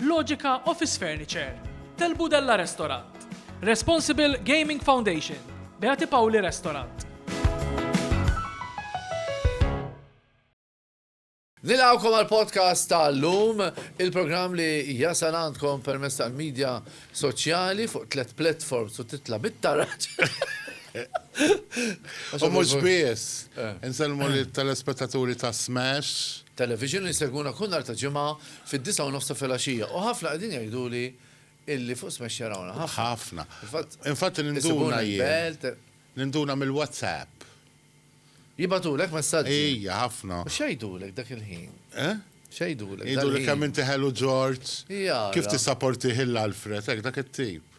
Logica Office Furniture, Tel Budella Restaurant, Responsible Gaming Foundation, Beati Pauli Restaurant. Nilawkom għal podcast tal-lum, il-program li jasal għandkom permess tal-medja soċjali fuq tlet platforms u titla bit-taraġ. U mux bies, eh. nselmu li telespettaturi ta' Smash. Television li seguna kunnar ta' ġimma Fid-disgħa u nofs ta' filgħaxija. U ħafna qegħdin jgħiduli illi fuq Smash jarawna. Ħafna. Ħafna. Fil-fatt. Infatti ninduna jien. Isibuna l-belt. Ninduna mill-WhatsApp. Jibgħatulek messaġġi? Ija, ħafna. U x'jgħidulek dak il-ħin? Eh? X'jgħidulek? Jgħiduli kemm inti ħelu George. Jara. Kif tissaportih il-Alfred, hekk dak it-tip.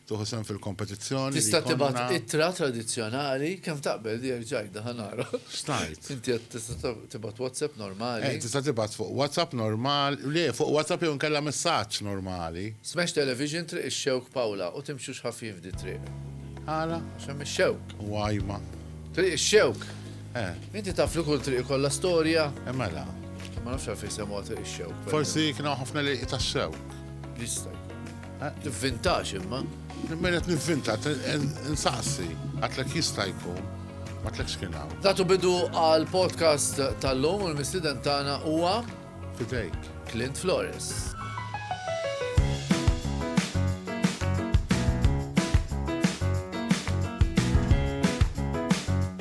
Tieħu sehem fil-kompetizzjoni. Tista' tibgħat ittra tradizzjonali kemm taqbel li ġajda ħa nara. Xtajt. Inti qed tista' tibgħat WhatsApp normali. Eh, tista' tibgħat fuq WhatsApp normal, le fuq WhatsApp jew inkella messaġġ normali. Smash Television Triq ix-Xewk Pawla u timxux ħafjin f'di triq. Għala? Għax hemm ix-xewk. U għajma. Triq ix-xewk. Eh. Inti taf li kull triq ikollha storja. Eh, mela. Ma nafx għalfejn semgħu triq ix-xewk. Forsi kienu ħafna li tax-xewk. Jista' Nivvintax imma. Min qed nivvinta, nsaqsi, għatlek jista' jkun, għatlek x'kien hawn. Tatu bidu għal podcast tal-lum u l-mistiden tagħna huwa Fidejk. Clint Flores.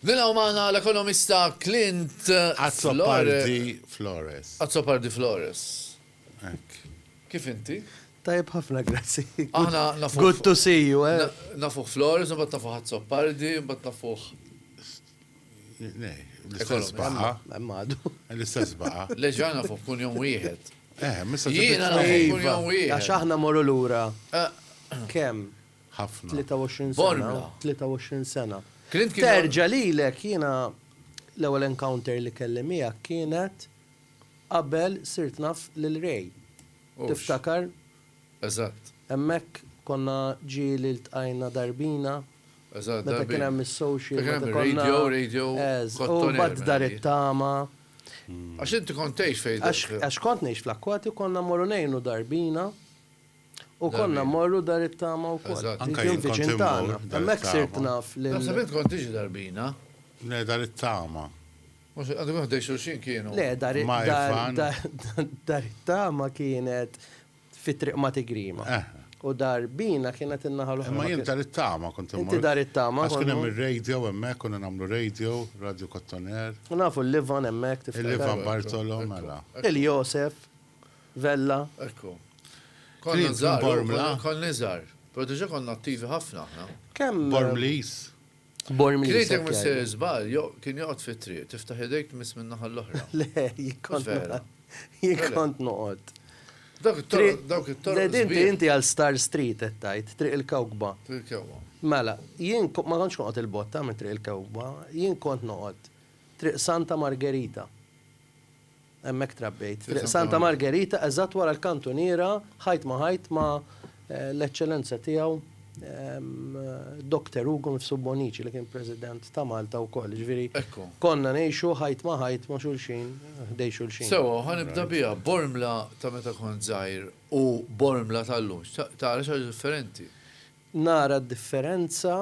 Nilgħu magħna l-ekonomista Clint Flores. Azzopardi Flores. Azzopardi Flores. Kif inti? Tajb ħafna, grazzi. Aħna nafu. Good to see you, eh. Nafu Flores, bat nafu Azzopardi, bat nafu. L-istess baqa. Emmadu. L-istess baqa. Leġana fuq kun jom wieħed. Eh, missa Jiena fuq kun jom wieħed. Għax aħna morru lura. Eh. Kemm? Ħafna. 23 sena. 23 sena. Terġa lilek jiena l-ewwel encounter li kelli miegħek kienet qabel sirt naf lil Ray. Tiftakar? Eżatt. Hemmhekk konna ġieli ltqajna darbina Eżatt, darbiet. Meta kien hemm is-social. Meta kien hemm ir-radio, radio. Eż. U mbagħad dar it-tama. Għax inti kont tgħix fejn. Għax kont ngħix fl-Akkwati u konna mmorru ngħinu dar Bina u konna mmorru dar it-tama wkoll. Eżatt. Anke jien kont immur dar it-tama. Hemmhekk sirt naf lil. Naħseb int kont tiġi dar Bina. Le, dar it-tama. Mhux għadhom ħdejn xulxin kienu. Le, dar it-tama kienet. Fi triq ma tigrima. U dar bina kienet in-naħa l-oħra. Imma jien dar it-tama kont immur. Inti dar it-tama. Għax kien hemm ir-radio hemmhekk konna nagħmlu radio, Radio Kottoner. U nafu l-Ivan hemmhekk tiftakar. Il-Ivan Bartolo, mela. Il-Josef, Vella. Ekku. Konna żgħar. Konna iżgħar. Però diġà konna attivi ħafna aħna. Kemm. Bormliż. Krietek missier iżball, kien joqgħod fit-triq, tiftaħ idejk tmiss min-naħa l-oħra. Le, jien kont jien kont noqgħod. Dawk it-toroq, dawk it-toroq. Inti inti għal Star Street qed tgħid, Triq il-Kewkba. Triq il-Kewkba. Mela, jien ma kontx noqgħod il-botta minn Triq il-Kewkba, jien kont noqgħod Triq Santa Margerita. Hemmhekk trabbejt, Triq Santa Margerita, eżatt wara l-kantuniera, ħajt ma' ħajt ma' l-Eċċellenza Tiegħu Dokter Ugo Mifsud Bonnici li kien President ta' Malta wkoll. Jiġifieri konna ngħixu ħajt ma' ħajt ma' xulxin, ħdejn xulxin. Sewwa, u ħa nibda biha, Bormla ta' meta kont żgħir u Bormla tal-lum, tara xi ħaġa differenti? Nara d-differenza,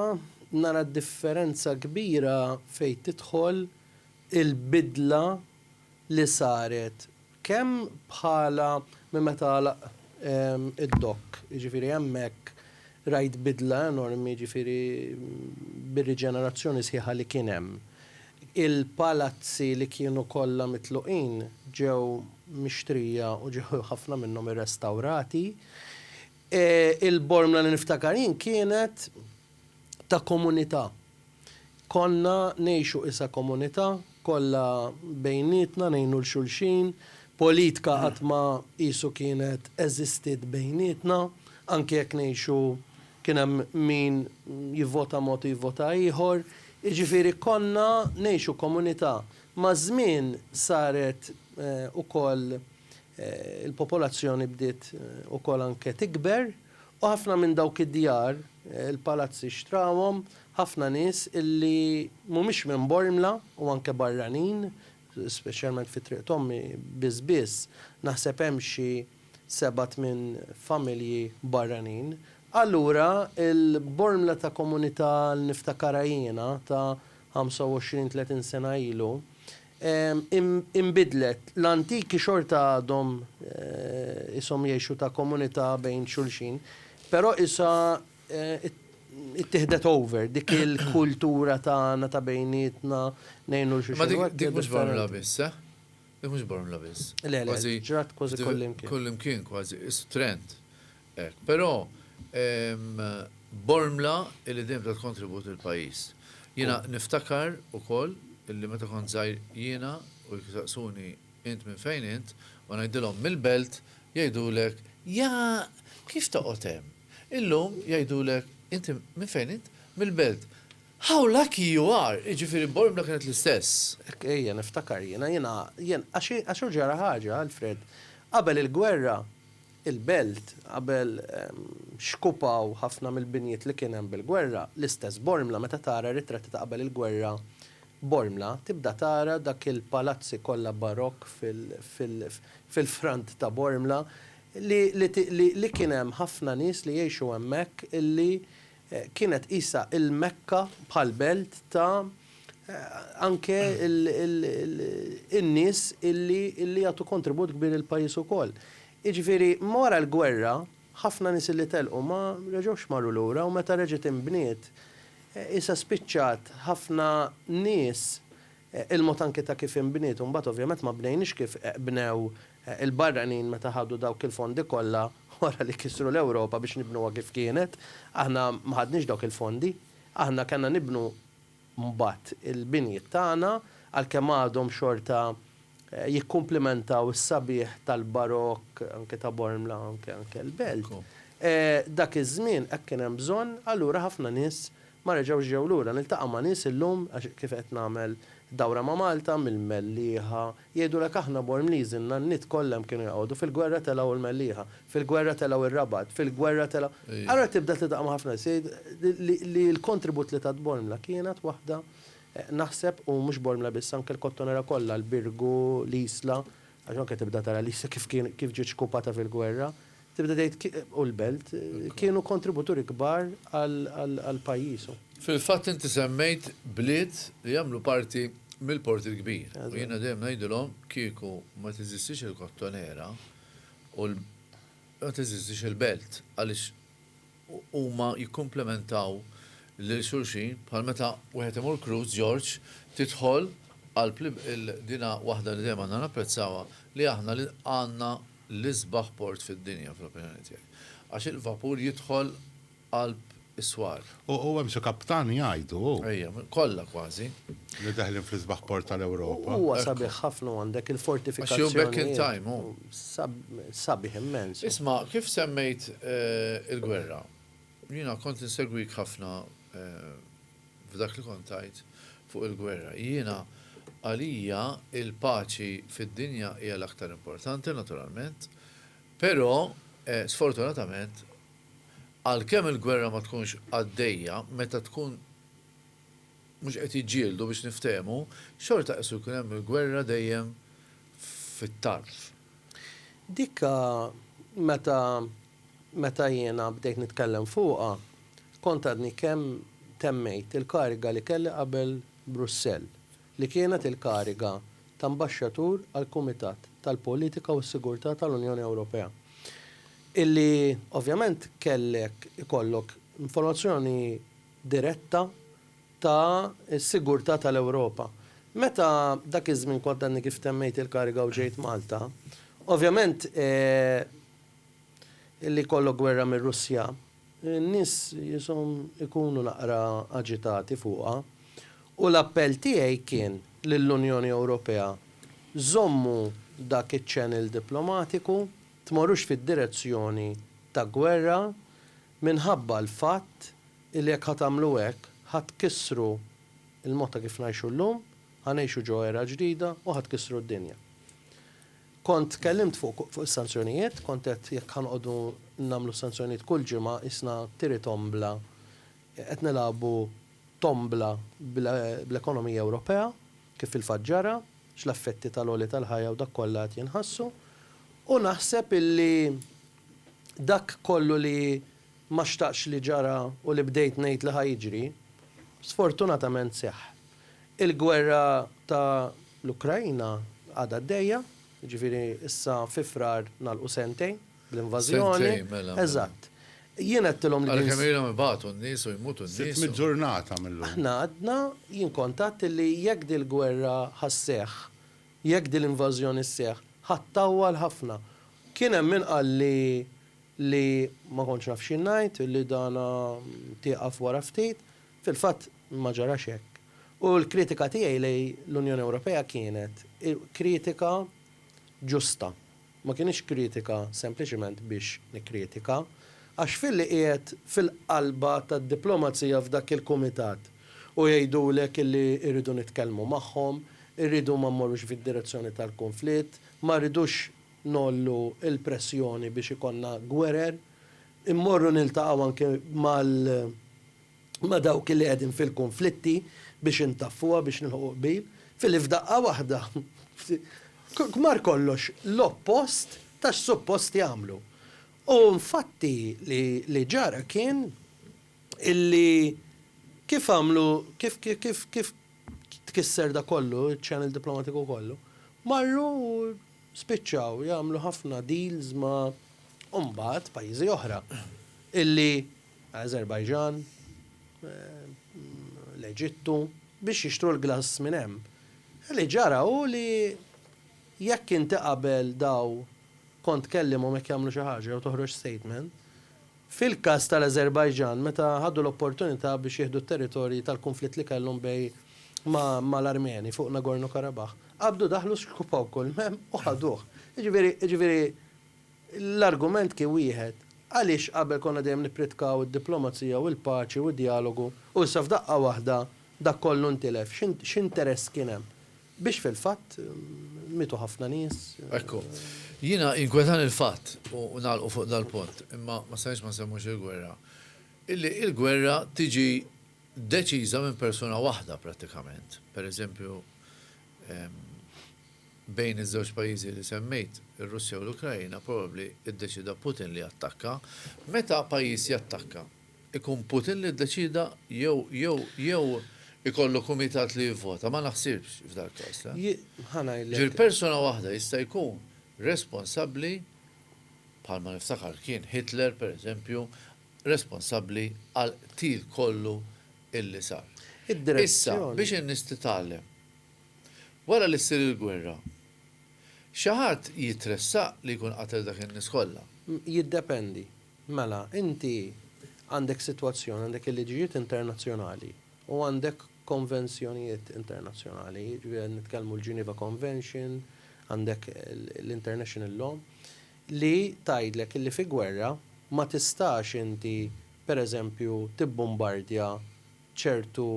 nara d-differenza kbira fejn tidħol il-bidla li saret kemm bħala minn meta għalaq id-dokk, jiġifieri hemmhekk rajt bidla enormi jiġifieri bir-riġenerazzjoni sħiħa li kien hemm. Il-palazzi li kienu kollha mitluqin ġew mixtrija u ġew ħafna minnhom irrestawrati. Il-Bormla li niftakar jien kienet ta' komunità. Konna ngħixu isa komunità, kollha bejnietna ngħinu 'l xulxin, politka qatt ma qisu kienet eżistiet bejnietna, anke jekk ngħixu kien hemm min jivvota mod u jivvota ieħor, jiġifieri konna ngħixu komunità. Maż-żmien saret ukoll il-popolazzjoni bdiet ukoll anke tikber, U ħafna minn dawk id-djar, il-palazzi xtrawhom ħafna nies illi mhumiex minn Bormla u anke barranin, speċjalment fi Triq t'Ommi biss biss naħseb hemm xi seba' tmien familji barranin. Allura l-Bormla ta' komunità li niftakarha jiena ta' 25, 30 sena ilu inbidlet, l-antiki xorta għadhom qishom jgħixu ta' komunità bejn xulxin, però qisha ttieħdet over dik il-kultura tagħna ta' bejnietna ngħinu 'l xulxin. Imma dik mhux Bormla biss, eh? Dik mhux Bormla biss. Le, le, ġrat kważi kullimkien. Kullimkien kważi, qisu trend. Hekk, però bormla illi dejjem tat kontribut lill-pajjiż. Jiena niftakar ukoll illi meta kont żgħir jiena u jsaqsuni int minn fejn int u ngħidilhom mill-Belt jgħidulek ja kif toqgħod hemm. Illum jgħidulek inti minn fejn int? Mill-Belt. How lucky you are! Jiġifieri bormla kienet l-istess. Hekk, ejja niftakar jiena, jiena, jiena, għax hu ġara ħaġa, Alfred. Qabel il-gwerra il-belt qabel xkupaw ħafna mill-binjiet li kien hemm bil-gwerra, l-istess Bormla meta tara r-ritratti ta' qabel il-gwerra Bormla tibda tara dak il-palazzi kollha barokk fil-front ta' Bormla li kien hemm ħafna nies li jgħixu hemmhekk li Kienet qisha il-Mekka bħal belt ta' anke in-nies illi illi jagħtu kontribut kbir il-pajjiż ukoll. Jiġifieri wara l-gwerra ħafna nies illi telqu ma reġgħux marru lura u meta reġgħet inbniet qisha spiċċat ħafna nies Il-mod anki ta' kif inbniet u mbagħad ovvjament ma bnejniex kif bnew il-barranin meta ħadu dawk il-fondi kollha wara li kisru l-Ewropa biex nibnuha kif kienet. Aħna ma ħadniex dawk il-fondi. Aħna kellna nibnu mbagħad il-binjiet tagħna għalkemm għadhom xorta jikkumplimentaw is-sabiħ tal-Barokk anki ta' Bormla anke anke l-Belt. Dak iż-żmien hekk kien hemm bżonn allura ħafna nies Ma reġgħux ġew lura. Niltaqa' ma' nies illum, għax kif qed nagħmel dawra ma' Malta, mill-Mellieħa, jgħidulek aħna Bormliżi n-nanniet kollha hemm kienu joqogħdu, fil-gwerra telgħu l-Mellieħa, fil-gwerra telgħu r-Rabat, fil-gwerra telgħu. Allura tibda tiltaqa' ma' ħafna nies jgħid li l-kontribut li tat Bormla kienet waħda naħseb u mhux Bormla biss anke l-Kottonera kollha, l-Birgu, l-Isla, għax anke tibda tara l-Isla kif kien kif ġiet xkupata fil-gwerra, Tibda tgħid u l-belt kienu kontributuri kbar għal pajjiżu. Fil-fatt inti semmejt bliet li jagħmlu parti mill-Port il-Kbir u jiena dejjem ngħidilhom kieku ma teżistix il-Kottonera u ma teżistix il-belt għaliex huma jikkumplimentaw lil xulxin bħal meta wieħed imur cruise George tidħol qalb dina waħda li dejjem għandna napprezzawha li aħna li għandna l-isbaħ port fid-dinja fl-opinjoni tiegħi għax il-vapur jidħol qalb is-swar. U hemm xi kaptan jgħidu hu. Ejja, kollha kważi. Li deħlin fl-isbaħ port tal-Ewropa. Huwa sabiħ ħafna u għandek il-fortifikazzjonijiet. Għax hu back in time hu. Sabiħ immens! Isma', kif semmejt il-gwerra, jiena kont insegwik ħafna f'dak li kont tgħid fuq il-gwerra. Jiena, għalija l-paċi fid-dinja hija l-aktar importanti, naturalment, però sfortunatament għalkemm il-gwerra ma tkunx għaddejja, meta tkun, mhux qed jiġġieldu biex niftehmu, xorta qissu jkun hemm il-gwerra dejjem fit-tarf. Dik meta meta jiena bdejt nitkellem fuqha, kont għadni kemm temmejt il-kariga li kelli qabel Brussell, li kienet il-kariga ta' Ambaxxatur għall-Kumitat tal-Politika u s-Sigurtà tal-Unjoni Ewropea, illi ovvjament kellek ikollok informazzjoni, diretta ta' s-sigurtà ta' l-Ewropa. Meta dak iż-żmien kont għadni kif temmejt il-kariga u ġejt Malta, ovvjament li jkollok gwerra mir-Russja, n-nies jishom ikunu naqra aġitati fuqha u l-appell tiegħi kien lill-Unjoni Ewropea, żommu dak iċ-channel diplomatiku, tmorrux fid-direzzjoni ta' gwerra, Minħabba l-fatt li jekk ħa tagħmlu hekk, ħa tkissru l-mod ta' kif ngħixu llum, ħa ngħixu ġo era ġdida u ħa tkissru d-dinja. Kont tkellimt fuq fuq is-sanzjonijiet, kont għedt jekk ħa noqogħdu nagħmlu s-sanzjonijiet kull ġimgħa qisna tiri tombla, qed nilagħbu tombla bl-ekonomija Ewropea, kif fil-fatt ġara, x'l-effetti tal-għoli tal-ħajja u dak kollha qed jinħassu. U naħseb illi Dak kollu li ma xtaqtx li ġara u li bdejt ngħid li ħa jiġri, sfortunatament seħħ. Il-gwerra ta' l-Ukraina għadha għaddejja, jiġifieri issa fi Frar nagħlqu sentejn bl-invażjoni. Sentejn, mela, mela. Eżatt. Jien għedtilhom li din. Għalkemm ilhom ibatu n-nies u jmutu n-nies u. Sitt mitt ġurnata minn llum. Aħna għadna, jien kont għedt li jekk dil-gwerra ħa sseħħ Jekk din l-invażjoni sseħħ, ħa ttawwal ħafna. Kien hemm min qal li li ma kontx naf xi ngħid, li dan tieqaf wara ftit. Fil-fatt ma ġarax hekk. U l-kritika tiegħi lejn l-Unjoni Ewropea kienet kritika ġusta. Ma kinitx kritika sempliċement biex nikkritika, għax filli qiegħed fil-qalba tad-diplomazija f'dak il-kumitat u jgħidulek illi rridu nitkellmu magħhom, irridu ma mmorrux fid-direzzjoni tal-kunflitt, ma rridux ngħollu l-pressjoni biex ikollna gwerer, immorru niltaqgħu anke mal. ma' dawk li qegħdin fil-kunflitti biex intaffuha biex nilħqu qbil, f'li f'daqqa waħda kmar kollox l-oppost ta' x'suppost jagħmlu. U nfatti li ġara kien illi kif għamlu kif kif kif tkisser dak kollu, iċ-channel diplomatiku kollu, marru u spiċċaw jagħmlu ħafna deals ma' u mbagħad pajjiżi oħra illi Azerbaijan, l-Eġittu, biex jixtru l-glass minn hemm. Li ġara hu li jekk inti qabel daw kont tkellihom jekk jagħmlu xi ħaġa jew toħroġ statement, fil-każ tal-Azerbaijan meta ħadu l-opportunità biex jieħdu t-territorji tal-kunflitt li kellhom bej ma' l-Armeni fuq Nagorno-Karabakh, qabdu daħlu xkupaw kull m'hemm u ħaduh. Jiġifieri, jiġifieri, L-argument kien wieħed, għaliex qabel konna dejjem nippritkaw id-diplomazija u l-paċi u d-djalogu u issa f'daqqa waħda dak kollu ntilef? X'interess kien hemm biex fil-fatt mietu ħafna nies? Ekku. Jiena jinkwetani l-fatt, u nagħlqu fuq dal-punt, imma ma stajtx ma nsemmux il-gwerra, illi l-gwerra tiġi deċiża minn persuna waħda prattikament. Per eżempju, Bejn iż-żewġ pajjiżi li semmejt, ir-Russja u l-Ukraina, probabbli ddeċieda Putin li jattakka. Meta pajjiż jattakka, ikun Putin li ddeċieda jew jew jew ikollu kumitat li jivvota? Ma naħsibx f'dal-każ, le. Ħa ngħidlek. Jiġifieri persuna waħda jista' jkun responsabbli, bħalma niftakar kien Hitler pereżempju, responsabbli għall-qtil kollu illi sar. Issa, biex in-nies titgħallem Wara li ssir il-gwerra, xi ħadd jitressaq li jkun qatel dak in-nies kollha? Jiddependi. Mela, inti għandek sitwazzjoni, għandek il-liġijiet internazzjonali u għandek konvenzjonijiet internazzjonali, jiġifieri qed nitkellmu l-Geneva Convention, għandek l-International Law, li tgħidlek li fi gwerra ma tistax inti, pereżempju, tibbumbardja ċertu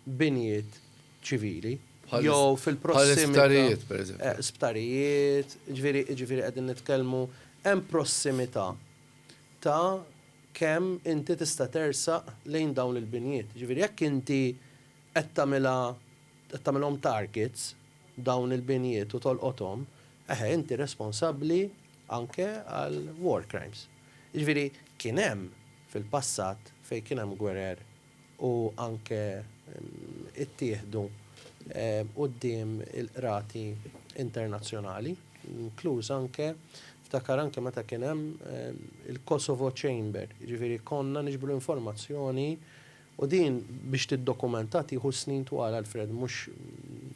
binjiet ċivili jew fil-prossimità. Bħal isptarijiet, pereżempju. Sptarijiet, jiġifieri, jiġifieri qegħdin nitkellmu, hemm prossimità ta' kemm inti tista' tersaq lejn dawn il-binjiet. Jiġifieri jekk inti qed tagħmilha, qed tagħmilhom targets dawn il-binjiet u tolqothom, eħe inti responsabbli anke għal war crimes. Jiġifieri kien hemm. fil-passat fejn kien hemm gwerer u anke ittieħdu quddiem il-qrati internazzjonali, inkluż anke ftakar anke meta kien hemm il-Kosovo Chamber, jiġifieri konna niġbru informazzjoni u din biex tiddokumentha tieħu snin twal Alfred mhux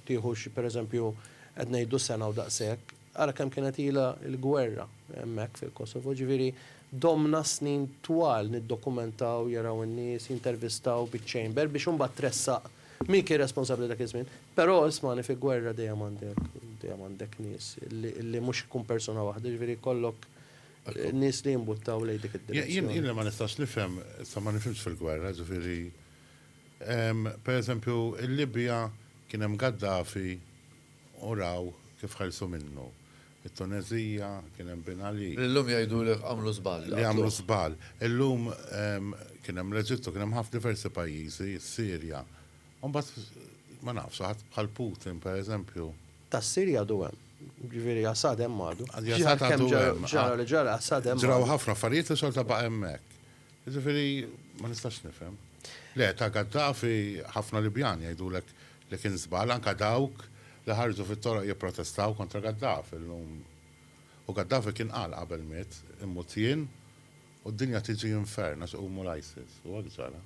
tieħu xi pereżempju qed ngħidu sena u daqshekk. Ara kemm kienet ilha l-gwerra hemmhekk fil-Kosovo, ġifieri domna snin twal niddokumentaw, jaraw in-nies, jintervistaw biċ-Chamber biex imbagħad tressaq min kien responsabbli dak iż-żmien. Però ismagħni fi gwerra dejjem għandek dejjem għandek nies li li mhux ikun persuna waħda, ġifieri jkollok nies li jimbuttaw lejn dik id-direzzjoni. Jien jiena ma nistax nifhem, sa ma nifhimx fil-gwerra, ġifieri pereżempju l-Libja kien hemm Gaddafi U raw kif ħelsu minnu. It-Tuneżija, kien hemm Ben Ali. Li llum jgħidulek għamlu żball, li għamlu żball. Illum kien hemm l-Eġittu, kien hemm diversi pajjiżi, is-Sirja. U mbagħad ma nafx, xi ħadd bħal Putin, pereżempju. Tas-Sirja għadu hemm. Jiġifieri Assad hemm għadu. Assad għadu hemm. Ġara li ġara, Assad hemm għadu. Ġraw ħafna affarijiet u xorta baqa' hemmhekk. Jiġifieri ma nistax nifhem. Le, ta' Gaddafi ħafna Libjani jgħidulek Li kien żball anke dawk li ħarġu fit-toroq jipprotestaw kontra Gaddafi llum. U Gaddafi kien qal qabel miet, immut jien u d-dinja tiġi infern għax iqumu l-ISIS. U hekk ġara.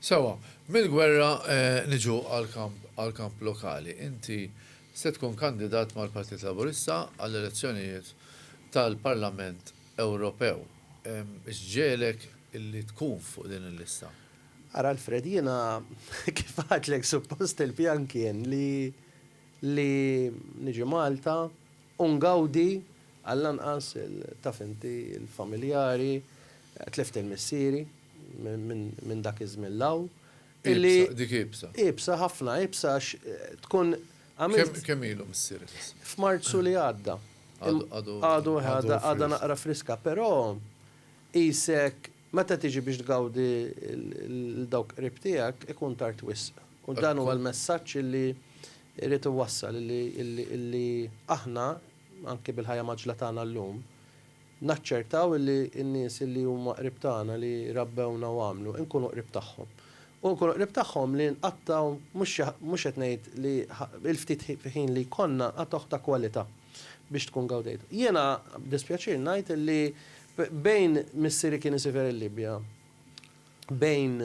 Sewwa, mill-gwerra niġu għall-kamp lokali. Inti se tkun kandidat mal-Partit Laburista għall-elezzjonijiet tal-Parlament Ewropew. X'ġegħelek li tkun fuq din il-lista? Ara Alfred, jiena kif għedtlek suppost il-pjan kien li li niġi Malta u ngawdi għall-anqas taf inti l-familjari, tlift il-missieri minn dak iż-żmien 'l hawn. Iebsa, dik iebsa. Iebsa ħafna, iebsa għax tkun għamilt. Kemm ilu missierek issa? F'Marzu li għadda. Għadu. Għadu, għadha naqra friska, però qisek Meta tiġi biex tgawdi 'l dawk qrib tiegħek, ikun tard wisq. U dan huwa l-messaġġ li jrid iwassal, illi aħna, anki bil-ħajja mgħaġġla tagħna llum, naċċertaw illi n-nies li huma qrib tagħna, li rabbewna u għamlu, inkunu qrib tagħhom. U nkunu qrib tagħhom li nqattgħu, mhux qed ngħid li il-ftit ħin li jkollna, nqattgħuh ta' kwalità. biex tkun gawdejtu. Jiena b'dispjaċir ngħid illi bejn missieri kien isifer il-Libja, bejn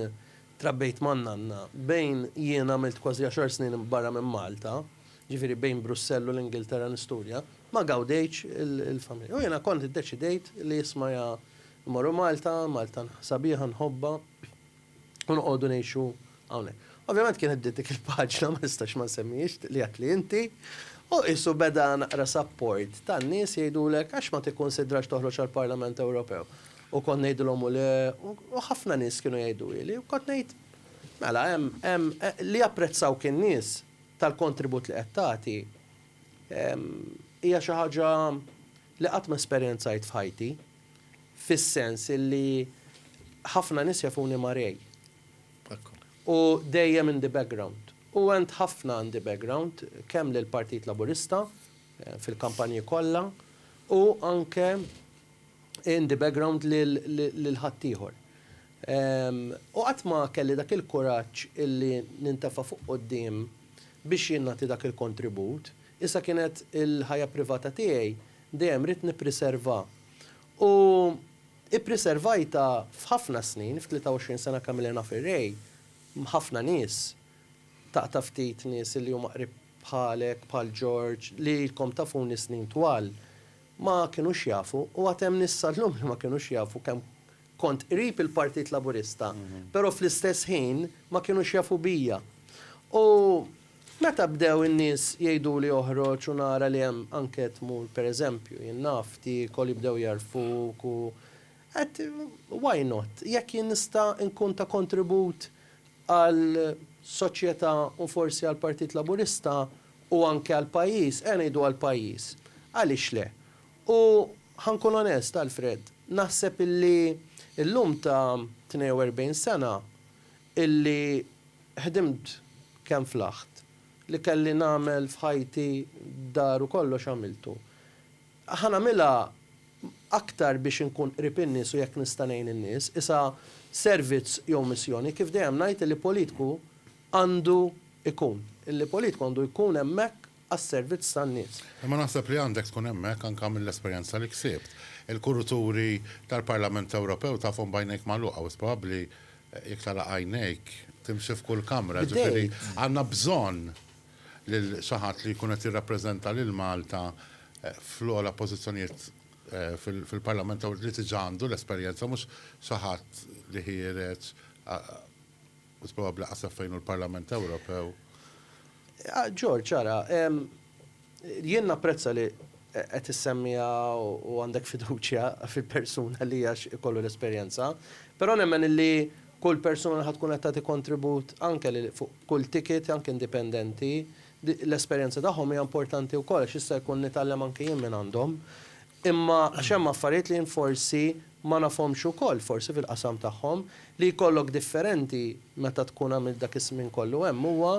trabbejt ma' nanna, bejn jiena għamilt kważi għaxar snin barra minn Malta, ġifieri bejn Brussell u l-Ingilterra nistudja, ma gawdejtx il-familja. U jiena kont iddeċidejt li isma' ja mmorru Malta, Malta sabiħa nħobbha. u noqogħdu ngħixu hawnhekk. Ovvjament kienet bdiet dik il-paġna ma nistax ma nsemmihiex li għedt li inti, u qisu beda naqra sapport tan-nies jgħidulek għax ma tikkunsidrax toħroġ għall-Parlament Ewropew. U kont ngħidilhom u le, u ħafna nies kienu jgħiduli, u kont ngħid, mela hemm, hemm, li japprezzawk in-nies tal-kontribut li qed tagħti hija xi ħaġa li qatt ma esperjenzajt f'ħajti. fis-sens illi ħafna nies jafuni ma' Ray. U dejjem in the background. U għent ħafna in the background, kemm lill-Partit Laburista, fil-kampanji kollha, u anke in the background lil ħaddieħor. U qatt ma kelli dak il-kuraġġ illi nintefa' fuq quddiem biex jien nagħti dak il-kontribut, iżda kienet il-ħajja privata tiegħi Dejjem ridt nippriserva u ippriservajtha f'ħafna snin, f'23 sena kamilha naf ir-Ray, m'ħafna nies, taqta' ftit nies li huma qrib bħalek, bħal George, li ilkom tafuni snin twal, ma kinux jafu u għad hemm nies sal-lum li ma kinux jafu kemm Kont qrib il-Partit Laburista, però fl-istess ħin ma kinux jafu bija. U meta bdew in-nies jgħiduli oħroġ u nara li hemm anke tmur per eżempju, jien naf, tiekol, jibdew jagħrfuk u għedt why not? Jekk jien nista' nkun ta' kontribut għal soċjetà u forsi għall-Partit Laburista u anke għall-pajjiż, ejja ngħidu għall-pajjiż, għaliex le? U ħa nkun onest, Alfred, naħseb illi llum ta' 42 sena illi ħdimt kemm flaħt, li kelli nagħmel f'ħajti dar u kollox għamiltu, ħa nagħmilha aktar biex inkun qrib in-nies u jekk nista' ngħin in-nies, qisha servizz jew missjoni, kif dejjem ngħid illi politku għandu jkun, illi politku għandu jkun hemmhekk għas-servizz tan-nies. Imma naħseb li għandek tkun hemmhekk anke mill-esperjenza li ksibt. Il-kuruturi tal-Parlament Ewropew tafhom b'għajnejk magħluqa wis probabbli jekk tagħlaq għajnejk timxi f'kull kamra, ġifieri għandna bżonn lil xi ħadd li jkun qed jirrappreżenta lil Malta fl-ogħla pożizzjonijiet fil-Parlament li diġà għandu l-esperjenza mhux xi ħadd li ħiereġ Mhux probabbli lanqas taf fejn hu l-Parlament Ewropew. George, ara, jien napprezza li qed issemmiha u għandek fiduċja fil-persuna li għax ikollu l-esperjenza, però nemmen illi kull persuna ħa tkun qed tagħti kontribut anke li fuq kull ticket, anke indipendenti, l-esperjenza tagħhom hija importanti wkoll għax jista' jkun nitgħallem anke jien minn għandhom. Imma għax hemm affarijiet li jien forsi ma nafhomx ukoll, forsi fil-qasam tagħhom, li jkollok differenti meta tkun għamilt dak iż-żmien kollu hemm huwa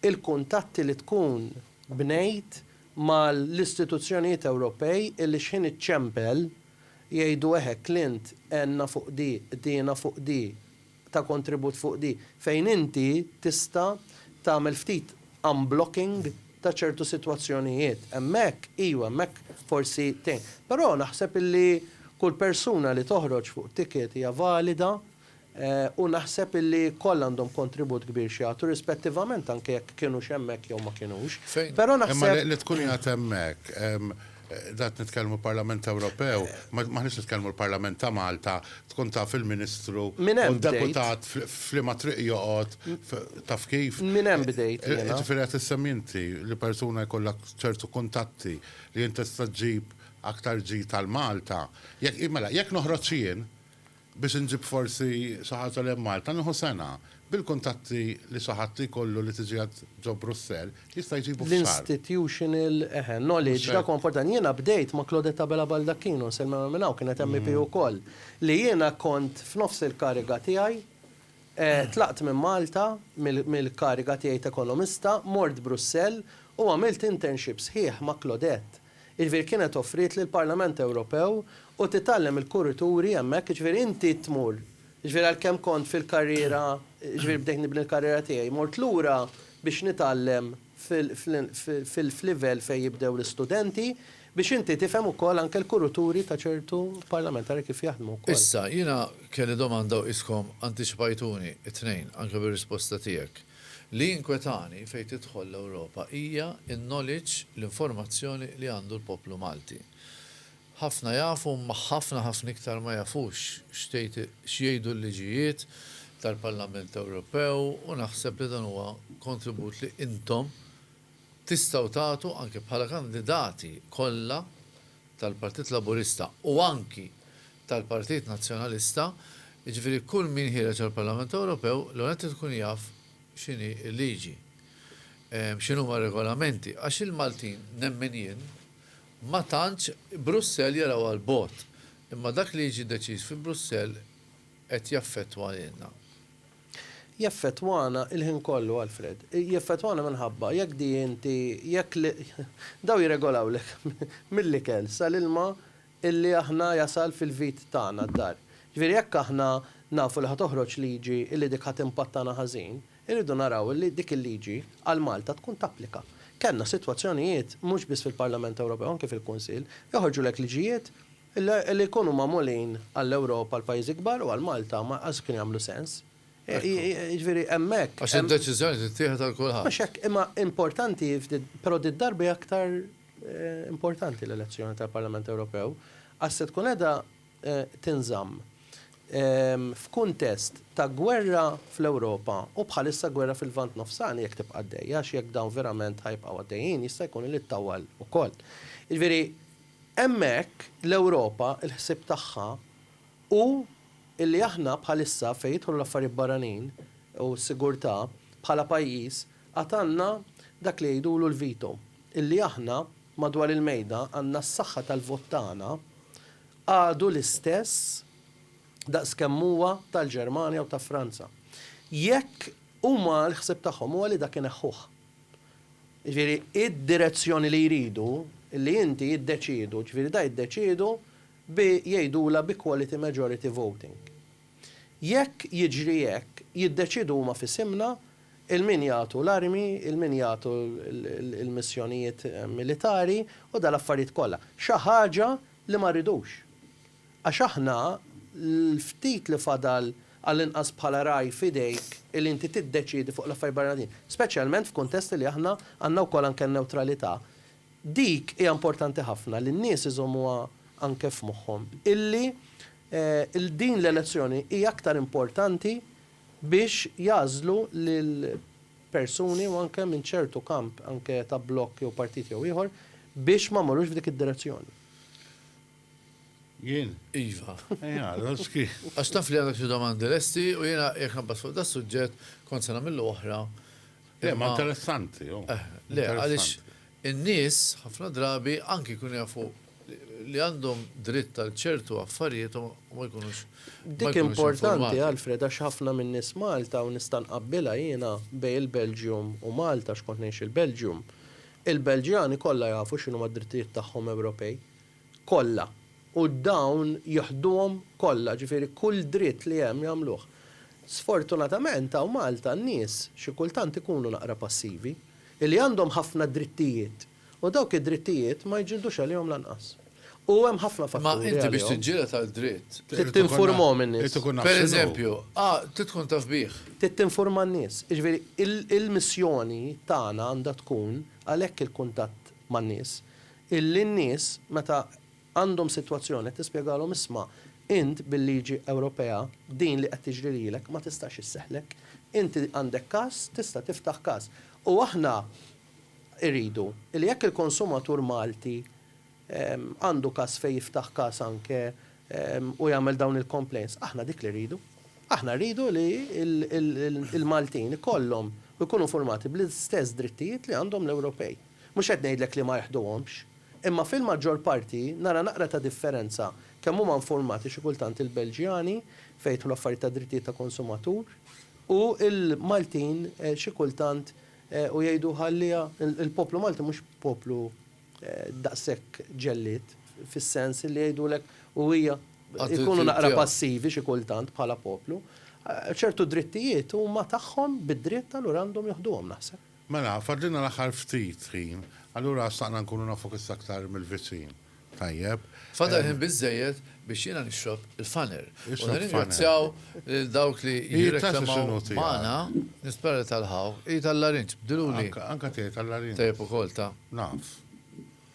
l-kuntatti li tkun bnejt mal-istituzzjonijiet Ewropej illi x'ħin iċċempel jgħidu eħe Clint għenna fuq di, qdiena fuq di, ta' kontribut fuq di fejn inti tista' tagħmel ftit unblocking ta' ċertu sitwazzjonijiet. Hemmhekk, iva, hemmhekk forsi tgħin. Però naħseb illi kull persuna li toħroġ fuq ticket hija valida u naħseb illi kollha għandhom kontribut kbir x'jagħtu rispettivament anke jekk kinux hemmhekk jew ma kinux. Però naħseb. Imma li tkun qiegħed hemmhekk. Dat nitkellmu l-Parlament Ewropew, m'aħniex nitkellmu l-Parlament ta' Malta, tkun taf il-Ministru u d-Deputat f'liema triq joqgħod, taf kif? Minn hemm bdejt jiena. Ġifieri qed issemmi inti li persuna jkollha ċertu kuntatti li int tista' ġġib aktar ġid għal Malta. Jekk, mela, jekk noħroġ jien, Biex inġib forsi xi ħaġa lejn Malta nieħu sena. Bil-kuntatti li xi ħadd jkollu li tiġi għad ġo Brussell, jista' jġibu f'xahar. L-institutional, eħe, knowledge, dak huwa importanti. Jiena bdejt ma' Claudette Abela Baldacchino, nsellmilha minn hawn, kienet MEP ukoll, li jiena kont f'nofs il-kariga tiegħi, tlaqt minn Malta, mill-kariga tiegħi t'ekonomista, mort Brussell u għamilt internship sħiħ ma' Claudette. Jiġifieri kienet offriet lill-Parlament Ewropew u titgħallem il-kurituri hemmhekk, jiġifieri inti tmur, jiġifieri għalkemm kont fil-karriera, jiġifieri bdejt nibni l-karriera tiegħi, mort lura biex nitgħallem fil-livell fejn jibdew l-istudenti, biex inti tifhem ukoll anke l-kurituri ta' ċertu parlamentari kif jaħdmu wkoll. Issa, jiena kelli domanda u qiskom antiċipajtuni t-tnejn, anke bir-risposta tiegħek. Li jinkwetani fejn tidħol l-Ewropa hija n-knowledge, l-informazzjoni li għandu l-poplu Malti. Ħafna jafu imma ħafna ħafna iktar ma jafux x'tgħid x'jgħidu l-liġijiet tal-Parlament Ewropew u naħseb li dan huwa kontribut li intom Tistgħu tagħtu anki bħala kandidati kollha tal-Partit Laburista u anki tal-Partit Nazzjonalista, jiġifieri kull min ħiereġ għall-Parlament Ewropew l-ewwel nett irid ikun jaf x'inhi l-liġi, x'inhuma r-regolamenti, għax il-Maltin, nemmen jien, ma tantx Brussell jarawha 'l bogħod, imma dak li jiġi deċiż fi Brussell qed jaffettwa lilna. Jaffettwana l-ħin kollu, Alfred. Jaffettwana minħabba jekk di inti, jekk li, dawn jirregolawlek mill-ikel sal-ilma illi aħna jasal fil-vit tagħna d-dar. Ġifieri jekk aħna nafu li ħa toħroġ liġi illi dik ħa timpattana ħażin, irridu naraw illi dik il-liġi għal Malta tkun tapplika. Kellna sitwazzjonijiet, mhux biss fil-Parlament Ewropew, anki fil-Kunsill, joħorġulek liġijiet, Li jkunu magħmulin għall-Ewropa, għall-pajjiżi kbar u għal Malta ma qatt kien jagħmlu sens. Jiġifieri hemmhekk. Għax id-deċiżjoni tittieħed għal kulħadd. Mhux hekk, imma importanti, però din id-darba hija aktar importanti l-elezzjoni tal-Parlament Ewropew għax se tkun qiegħda tinżamm f'kuntest ta' gwerra fl-Ewropa u bħalissa gwerra fil-Lvant Nofsani jekk tibqa' għaddejja għax jekk dawn verament ħa jibqgħu għaddejjin jista' jkun li ttawwal ukoll. Jiġifieri. Hemmhekk l-Ewropa l-ħsieb tagħha hu li aħna bħalissa fejn jidħlu l-affarijiet barranin u s-sigurtà bħala pajjiż għad għandna dak li jgħidulu l-veto. Illi aħna madwar il-mejda għandna s-saħħa tal-vot tagħna għadu l-istess daqs kemm huwa tal-Ġermanja u ta' Franza. Jekk huma l-ħsieb tagħhom huwa li dak ineħħuh. Jiġifieri, id-direzzjoni li jridu, li inti jiddeċiedu, jiġifieri da jiddeċiedu bi jgħidulha bi quality majority voting. Jekk jiġri hekk, jiddeċiedu huma f'isimna 'il min jagħtu l-armi, 'il min jagħtu l-missjonijiet militari u dal-affarijiet kollha. Xi ħaġa li ma rridux. Għax aħna, l-ftit li fadal għallinqas bħala ragħaj f'idejk li inti tiddeċiedi fuq l-affarijiet barranin, speċjalment f'kuntest li aħna għandna wkoll anke n-newtralità, dik hija importanti ħafna li n-nies iżommuha anke f'moħħhom illi din l-elezzjoni hija aktar importanti biex jagħżlu lil persuni u anke minn ċertu kamp anke ta' blokk jew partit jew ieħor biex ma mmorrux f'dik id-direzzjoni. Jien? Iva. Ejja, Roski. Għax taf li għandek xi domandi lesti u jiena jekk nabbaż fuq da suġġett kont se nagħmillu oħra. Le, ma interessanti, jo. Eh, le, għaliex in-nies ħafna drabi anki jkunu jafu li għandhom dritt għal ċertu affarijiet u ma jkunux. Dik importanti, Alfred, għax ħafna minn nies Malta u nistan qabbilha jiena bej il-Belġium u Malta x'kont ngħix il-Belġium. Il-Belġjani kollha jafu x'inhuma d-drittijiet tagħhom Ewropej. kollha u dawn jiħduhom kollha, ġifieri kull dritt li hemm jagħmluh. Sfortunatament hawn Malta n-nies xi kultant ikunu naqra passivi, illi għandhom ħafna drittijiet u dawk id-drittijiet ma jġildux għalihom lanqas. U hemm ħafna fatturi għalihom. Imma inti biex tiġġieled għal dritt. Trid tinfurmahom in-nies. Pereżempju, trid tkun taf bih. Trid tinfurma n-nies. Jiġifieri il-missjoni tagħna għandha tkun għalhekk il-kuntatt man-nies. Illi n-nies meta għandhom sitwazzjoni qed tispjegalhom isma' int bil-liġi Ewropea din li qed tiġri lilek ma tistax isseħħlek. Inti għandek każ, tista' tiftaħ każ. U aħna rridu li jekk il-konsumatur Malti għandu każ fejn jiftaħ każ anke u jagħmel dawn il-complaints, aħna dik li rridu. Aħna rridu li l-Maltin ikollhom u jkunu informati bl-istess drittijiet li għandhom l-Ewropej. Mhux qed ngħidlek li ma jeħduhomx, imma fil-maġġor parti nara naqra ta' differenza kemm huma infurmati xi kultant il-Belġjani fejn jidħlu affarijiet ta' drittijiet ta' konsumatur u l-Maltin xi kultant u jgħidu ħalliha il-poplu Malti mhux poplu daqshekk ġellied fis-sens li jgħidulek u hija jkunu naqra passivi xi kultant bħala poplu. Ċertu drittijiet huma tagħhom bid-dritt allura għandhom joħduhom naħseb. Mela, fadlilna l-aħħar ftit ħin, allura xtaqna nkunu nafuk issa aktar mill-viċin. Tajjeb. Fadal ħin biżżejjed biex jiena nixrob il-faner. U nirringrazzjaw lil dawk li jirreklamaw magħna. Nispera li talħgħu. Hi tal-larinġ, bdilhuli. Anke tiegħi tal-larinġ. Tajjeb ukoll, ta? Naf.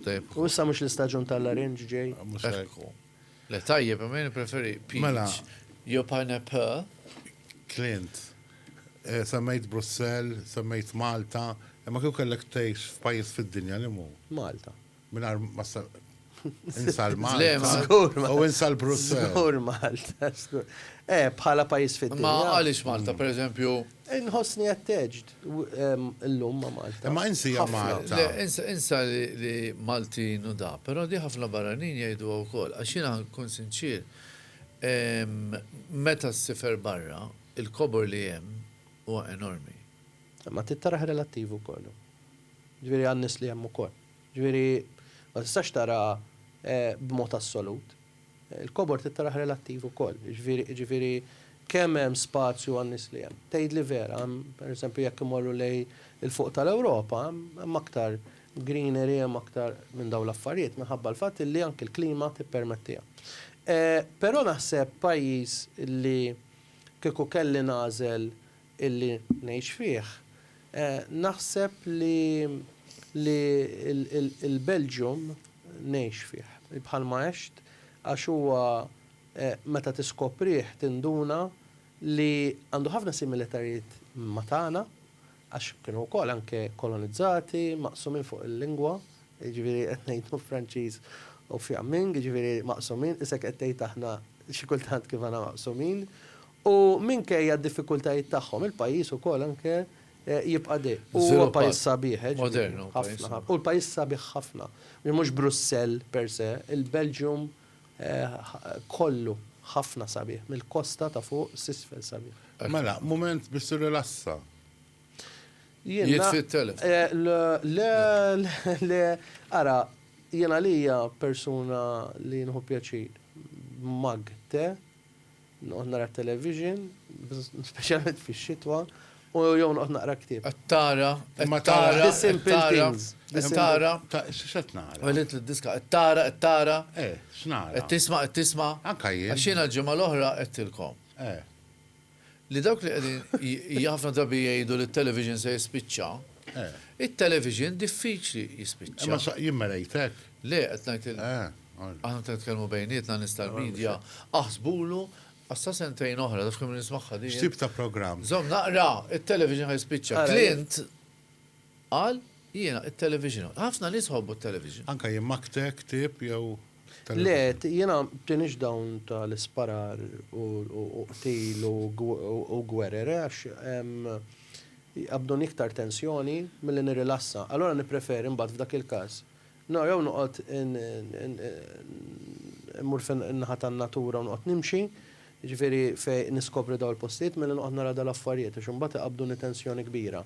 Tajjeb ukoll. U issa mhux l-istaġun tal-larinġ ġej? Mhux hekk. Le tajjeb imma jien nippreferi Mela. peach jew pineapple. Clint, semmejt Brussell, semmejt Malta, imma kieku kellek tgħix f'pajjiż fid-dinja liema hu? Malta. Mingħajr ma ssa insa l-Malta. Żgur Malta. U insa l-Brussell. Żgur Malta, żgur. Eh, bħala pajjiż fid-dinja. Imma għaliex Malta, pereżempju? Inħossni attached. Illum ma' Malta. Imma insi hija Malta. Le, insa li Maltin u da, però di ħafna barranin jgħiduha wkoll. Għax jiena nkun sinċier, meta ssifer barra, il-kobor li hemm huwa enormi. Imma trid tarah relattiv ukoll. Ġifieri għan-nies li hemm ukoll. Ġifieri ma tistax tara b'mod assolut. Il-kobor trid taraħ relattiv ukoll, jiġifieri kemm hemm spazju għan-nies li hemm. Tgħidli vera, hemm pereżempju jekk imorru lejn il-fuq tal-Ewropa, hemm aktar greenery, hemm aktar minn dawn l-affarijiet minħabba l-fatt illi anki l-klima tippermettiha. Però naħseb pajjiż li kieku kelli nagħżel illi ngħix fih, naħseb li li l-Belgium ngħix fih, bħalma għext, għax huwa meta tiskoprih tinduna li għandu ħafna similitarijiet ma' tagħna, għax kienu wkoll anke kolonizzati, maqsumin fuq il-lingwa, jiġifieri qed ngħid fuq Franċiż u Fiamming, jiġifieri maqsumin, isek qed tgħid aħna xi kultant kif aħna maqsumin, U minkejja d-diffikultajiet tagħhom, il-pajjiż ukoll anke jibqa' de. U huwa pajjiż sabiħ, eh, ġifieri, ħafna. U l-pajjiż sabiħ ħafna. Mhux Brussell per se, il-Belgium kollu ħafna sabiħ, mill-kosta ta' fuq s'isfel sabiħ. Mela, mument biex tirrilassa. Jiena. Jitfi t-telefon. Le, le, ara, jien għalija persuna li nieħu pjaċir b'mug te, Noqgħod nara t-television, speċjalment fix-xitwa, u jew noqgħod naqra ktieb. Qed tara, imma tara, The Simple Things. Qed tara, x'qed nara? Welit lid-diska, qed tara, qed tara. Eh, x'nara? Qed tisma', qed tisma'. Anke jien. Għax jiena l-ġimgħa l-oħra għedtilkom. Eh. Li dawk li qegħdin ħafna drabi jgħidu li t-television se jispiċċa. Eh. It-television diffiċli jispiċċa. Imma jien ma ngħid hekk. Le, qed ngħid lil aħna meta nitkellmu bejnietna nies tal-media, aħsbulu għax sa sentejn oħra, taf kemm nismagħha din. X'tip ta' programm? Żomm naqra, it-television ħa jispiċċa. Clint qal jiena it-television. Ħafna nies iħobbu t-television. Anke jien Magte, ktieb jew television? Le, jiena tiniex dawn tal-isparar u qtil u gwerer għax jqabbduni iktar tensjoni milli nirrilassa. Allura nippreferi mbagħad f'dak il-każ Naqra u noqgħod immur fin-naħa tan-natura u noqgħod nimxi, jiġifieri fejn niskopri dawn il-postijiet milli noqgħod nara dal-affarijiet għax imbagħad iqabbduni tensjoni kbira.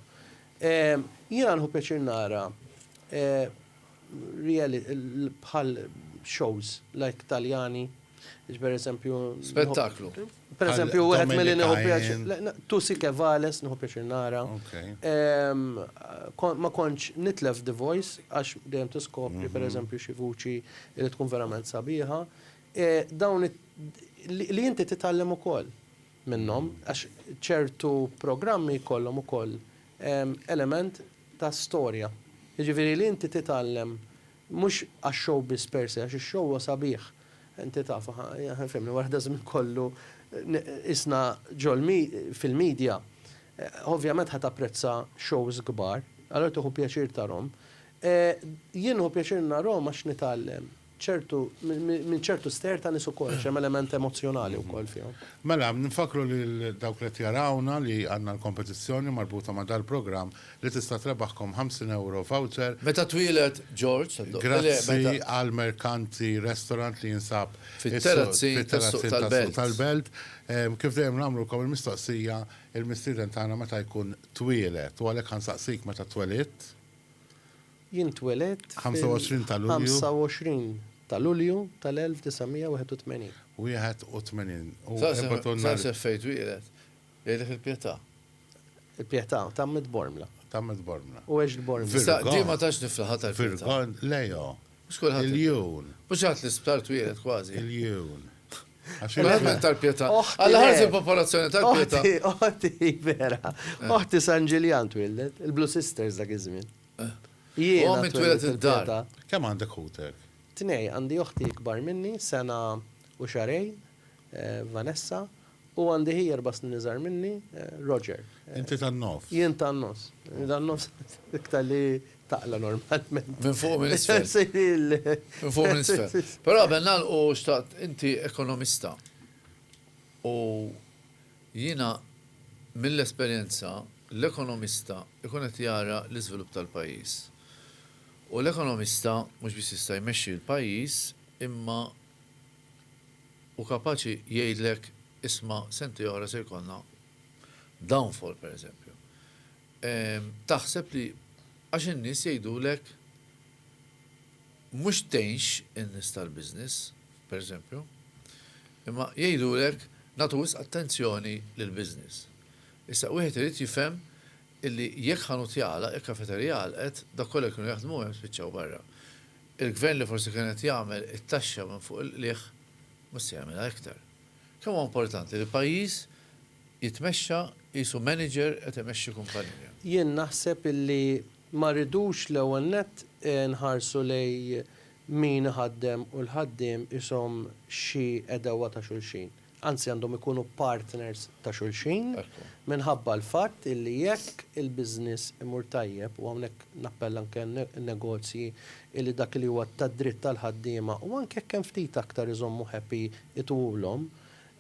Jiena nieħu pjaċir nara bħal shows like Taljani, jiġifieri pereżempju. Spettaklu. Pereżempju, wieħed milli nieħu pjaċir. Tusi Kevales nieħu pjaċir nara. Ma kontx nitlef The Voice għax dejjem tiskopri mhm. pereżempju xi vuċi li tkun verament sabiħa. E, dawn li inti titgħallem ukoll minnhom mhm. għax ċertu programmi jkollhom ukoll element ta' storja. Jiġifieri li inti titgħallem Mhux għax-show biss per se, għax ix-show huwa sabiħ. Inti taf, fehimni, wara daż-żmien kollu qisna fil-media, ovvjament ħa tapprezza shows kbar, allura tieħu pjaċir tarhom. Jien nieħu pjaċir narhom għax nitgħallem ċertu minn ċertu stejjer ta' nies ukoll, għax hemm element emozzjonali wkoll fihom. Mela, nfakkru lil dawk li qed jarawna li għandna l-kompetizzjoni marbuta ma' dal-programm li tista' trebaħkom 50 ewro voucher. Meta twieled George? Grazzi għal Mercanti Restaurant li jinsab fit-Terrazzin tas-Suq tal-Belt. Kif dejjem nagħmlulkom il-mistoqsija, il-mistieden tagħna meta jkun twieled? U għalhekk ħa nsaqsik meta twelidt? Jien twelidt fil-25 ta' Lulju tal-1981. 81. U erbgħatun nhar. Sa seffejt twieled? Jgħidlek il-pietà. Il-pietà, tgħammidt b'ormla. Tgħammidt b'ormla. U għext b'ormla. Issa, di ma tantx niflaħha tal-pietà. Virgon, lejha. Mhux kulħadd. Il-jun. Mhux kulħadd l-isptar twieled kważi. Il-jun. Verament tal-pietà. Alla ħares il-popolazzjoni tal-pietà. Oħti, oħti, vera. Oħti San Ġiljan twieldet, il-Blue Sisters dak iż-żmien. Jiena. Ommi twieldet id-dar. Kemm għandek ħutek? Tnejn, għandi oħti ikbar minni, sena u xahrejn, Vanessa, u għandi hi erba' snin iżgħar minni, Roger. Inti tan-nofs. Jien tan-nofs. Tan-nofs iktar li taqla normalment. Minn fuq u minn isfel. Minn fuq u minn isfel. Però qabel nagħlqu xtaqt, inti ekonomista u jiena mill-esperjenza l-ekonomista jkun qed jara l-iżvilupp tal-pajjiż. U l-ekonomista mhux biss jista' jmexxi l-pajjiż imma u kapaċi jgħidlek isma' sentej oħra se jkollna downfall pereżempju. Taħseb li għax in-nies jgħidulek mhux tgħinx in-nies tal-business, pereżempju, imma jgħidulek nagħtu wisq attenzjoni lill-business. Issa wieħed irid jifhem illi jekk ħanut jagħlaq, jekk kafeterija għalqet, dawk kollha li kienu jaħdmu hemm spiċċaw barra. Il-Gvern li forsi kien qed jagħmel it-taxxa minn fuq il-qligħ mhux se jagħmilha iktar. Kemm huwa importanti li pajjiż jitmexxa qisu manager qed imexxi kumpanija. Jien naħseb illi ma rridux l-ewwel nett nħarsu lejn min iħaddem u l-ħaddiem qishom xi għedewwa ta' xulxin. anzi għandhom ikunu partners ta' xulxin, minħabba l-fatt illi jekk il-business imur tajjeb, u hawnhekk nappella anke għan-negozji, illi dak li huwa tad-dritt tal-ħaddiema, u anke jekk hemm ftit aktar iżommu happy itwulhom,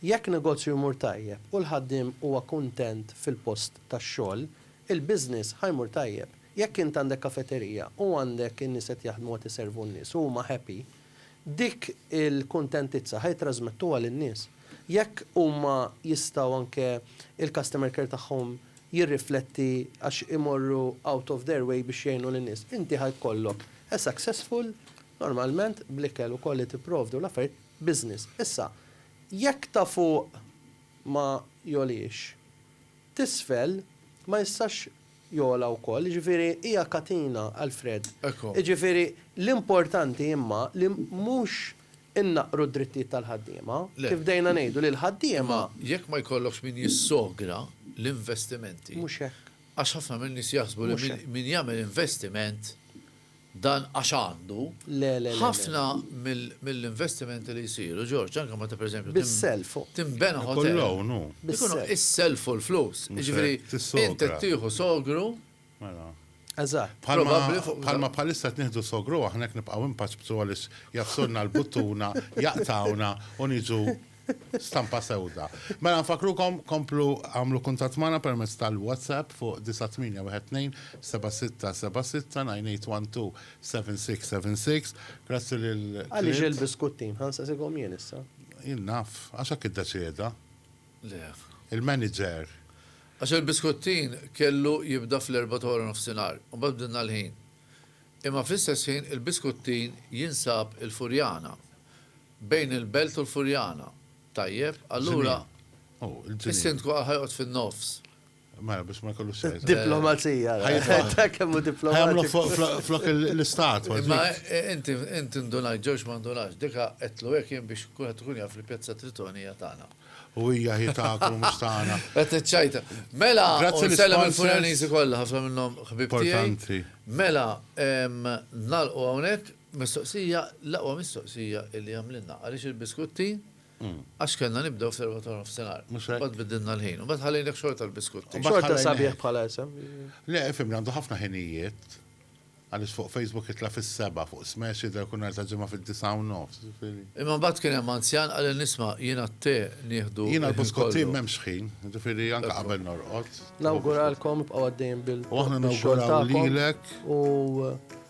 jekk negozju jmur tajjeb u l-ħaddiem huwa kuntent fil-post tax-xogħol, il-business ħa jmur tajjeb. Jekk int għandek kafeterija u għandek in-nies qed jaħdmu qed iservu n-nies u huma happy, Dik il-kuntentizza ħa jittrażmettuha lin-nies. Jekk huma jistgħu anke il-customer care tagħhom jirrifletti għax imorru out of their way biex jgħinu lin-nies, inti ħa jkollok a successful, normalment bl-ikel ukoll li tipprovdi u l-affarijiet, business. Issa, jekk ta' fuq ma jogħliex, t'isfel ma jistax jogħla wkoll, jiġifieri hija katina, Alfred. Jiġifieri l-importanti imma li mhux innaqqru d-drittijiet tal-ħaddiema, kif bdejna ngħidu li l-ħaddiema. Imma jekk ma jkollokx min jissogra l-investimenti. Mhux hekk. Għax ħafna min-nies jaħsbu li min jagħmel investiment dan għax għandu, ħafna mill-investimenti li jsiru, George, anke meta pereżempju tinbena hotel, ikunu s-self u l-flus. Jiġifieri int qed tieħu sogru. Mela. Eżatt. Bħalma bħalissa qed nieħdu sogru aħna jekk nibqgħu impaċbsu għaliex jgħaffsulna l-buttuna, jaqtgħuna u niġu Stampa sewda. Mela nfakkrukom komplu għamlu kuntatt magħna permezz tal-WhatsApp fuq 98127676 Grazzi lil Clint. Għaliex il-biskuttin? Ħa nsaqsikom jien issa. Jien naf. Għax hekk iddeċieda. Le. Il-manager. Għax il-biskuttin kellu jibda fl-erbgħa ta' wara nofsinhar u mbagħad bdilna l-ħin. Imma fl-istess ħin il-biskuttin jinsab il-Furjana. Bejn il-Belt u l-Furjana. Tajjeb, allura is-Sindku għal ħa joqgħod fin-nofs. Mela, biex ma jkollux xejn. Diplomazija. Ta' kemm hu diplomatiku. Flok l-istat. Ma inti inti ndunajt ġewx ma ndunax. Dika qedlu hekk jien biex kulħadd ikun jaf li pjazza Tritoni hija tagħna. U hija hi tagħkom mhux tagħna. Qed iċċajta. Mela, nsellem il-Furjaniżi kollha ħafna minnhom ħbib tiegħi. Mela, nagħlqu hawnhekk. Mistoqsija, l-aqwa mistoqsija illi għamlilna, għaliex il-biskutti? Għax kellna nibdew fl-erbgħa ta' nofsinhar. Mhux hekk? Mbagħad biddilna l-ħin. U mbagħad ħallejnek xorta l-biskutti. Xorta sabiħ bħala isem. Le, ifhimni, għandu ħafna ħinijiet. Għaliex fuq Facebook jitla' fis-sebgħa, fuq Smash jidher kull nhar ta' Ġimgħa fid-disgħa u nofs, ġifieri. Imma mbagħad kien hemm anzjan qalilni isma' jiena t-te nieħdu l-ħin kollu. Jiena l-biskutti m'hemmx ħin, ġifieri anke qabel norqod. Nawguralkom ibqgħu għaddejjin bil-xogħol tagħkom. U aħna nawguraw lilek.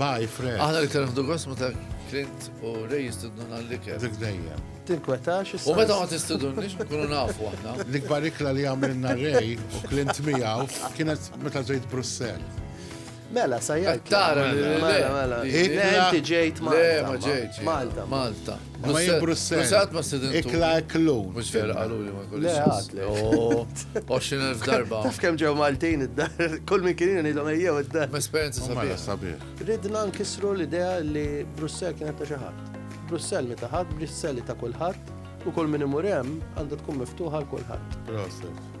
Bye, Fred. Aħna li kien ħdu għas meta Clint u Ray jistudnu għal-liker. Dik dejjem. Tinkwetax. U meta ma tistudunniex nkunu nafu aħna. L-ikbar ikla li għamilna Ray u Clint miegħu kienet meta ġejt Brussell. Mela, sajjaj. Tara, mela, mela. Inti ġejt Malta. Malta. Malta. Ma jien Brussell. Brussell qatt ma stidintu. Ikla eklun. Mhux vera qaluli ma jkunx. Le għad le. 20,000 darba. Taf kemm ġew Maltin id-dar, kull min kien ngħidhom ejjew id-dar. Esperjenza sabiħa. Sabiħ. Ridna nkissru l-idea li Brussell kienet ta' xi ħadd. Brussell mi ta' ħadd, Brussell ta' kulħadd, u kull min imur hemm għandha tkun miftuħa għal kulħadd. Proset.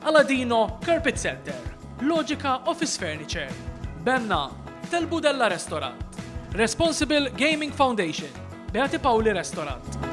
Aladino Carpet Center, Logica Office Furniture, Benna, Tel Budella Restaurant, Responsible Gaming Foundation, Beati Pauli Restaurant.